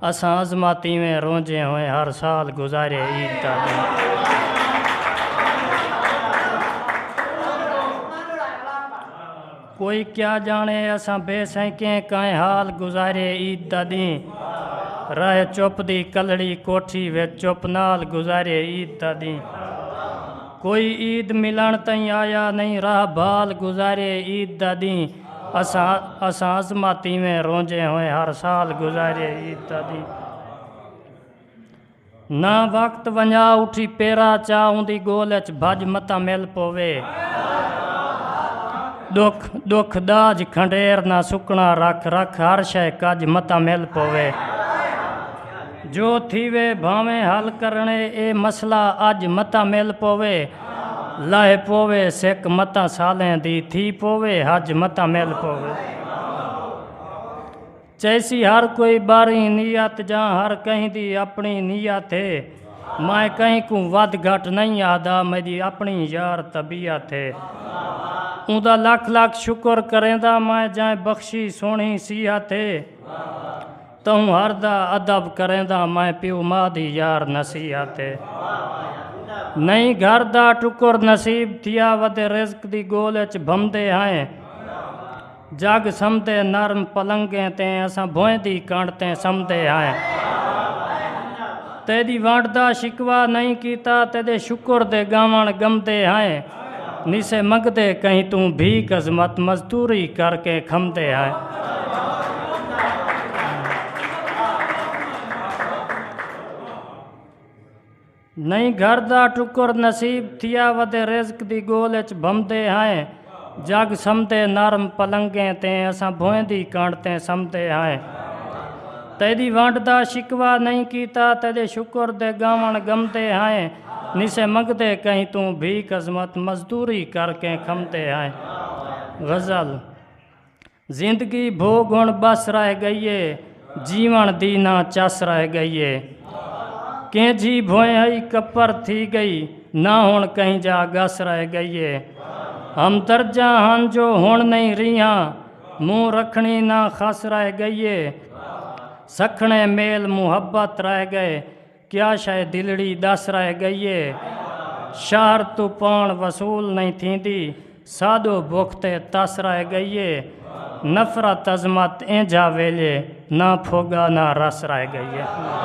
اساں عظمہ تیویں رونجے ہوئیں ہر سال گزارے عید دا ݙینھ۔ کوئی کیا ڄاݨے اساں بے سئیں کیں کائیں حال گزارے عید دا ݙینھ۔ راہ چپ دی کلہڑی کوٹھی وچ چپ نال گزارے عید دا ݙینھ۔ کوئی عید ملݨ تئیں آیا نئیں راہ بھال گزارے عید دا ݙینھ۔ اساں عظمت ایویں رونجے ہوئیں ہر سال گزارے عید دا ڈینہہ نہ وقت ونجا اٹھی پیرا چا اوندی گول اچ بھج متا مل پوے دکھ دکھ داج کھنڈیر نہ سکنا رکھ رکھ ہر شے کج متا مل پوے جو تھیوے بھاویں حل کرنے اے مسئلہ اج متا مل پوے لہہ پووے سک متاں سالیں دی تھی پووے حج متاں مل پووے چیسی ہر کوئی باریں نیت جاں ہر کہیں دی اپنی نیت ہے میں کہیں کوں ودھ گھٹ نہیں آہدا میڈی اپنی یار طبیعت ہے اوندا لکھ لکھ شکر کریندا میں جائیں بخشی سوہنی صحت ہے تہوں ہر دا ادب کرینداں میں پیو ماء دی یار نصیحت اے نئیں گھر دا ٹکر نصیب تھیا ودے رزق دی گول اچ بھمدے ہائیں جگ سمدے نرم پلنگیں تیں اساں بھوئیں دی کنڈ تیں سمدے ہائیں تیڈی ونڈ دا شکوا نئیں کیتا تیڈے شکر دے گاونڑ گمدے ہائیں۔ نیسے منگدے کہیں توں بھیک عظمت مزدوری کر کے کھمدے ہائے نہیں گھر دا ٹکر نصیب تھیا ودے رزق دی گول اچ بھمدے ہائے جگ سمدے نرم پلنگیں تے اساں بھوئیں دی کانڈ تے سمدے ہائے تیری وانڈ دا شکوا نہیں کیتا تیرے شکر دے گاون گمدے ہائے نسے منگدے کہیں توں بھیک عظمت مزدوری کر کیں کھمدے ہائیں غزل زندگی بھوگ ہن بس رہ گئی اے جیون دی نہ چس رہ گئی اے کیں جھی بھوئیں ہئی کپر تھی گئی نہ ہن کہیں جا گس رہ گئی اے ہم درجہ ہن جو ہن نہیں ریہاں منہ رکھنی نہ خس رہ گئی اے سکھنے میل محبت رہ گئے کیا شئے دلڑی ڈس رہ گئی اے۔ شہر توں پان وصول نئیں تھیندی ساڈو بکھ تے تس رہ گئی اے۔ نفرت عظمت اینجھا ویلے نہ پھوگا نہ رس رہ گئی اے۔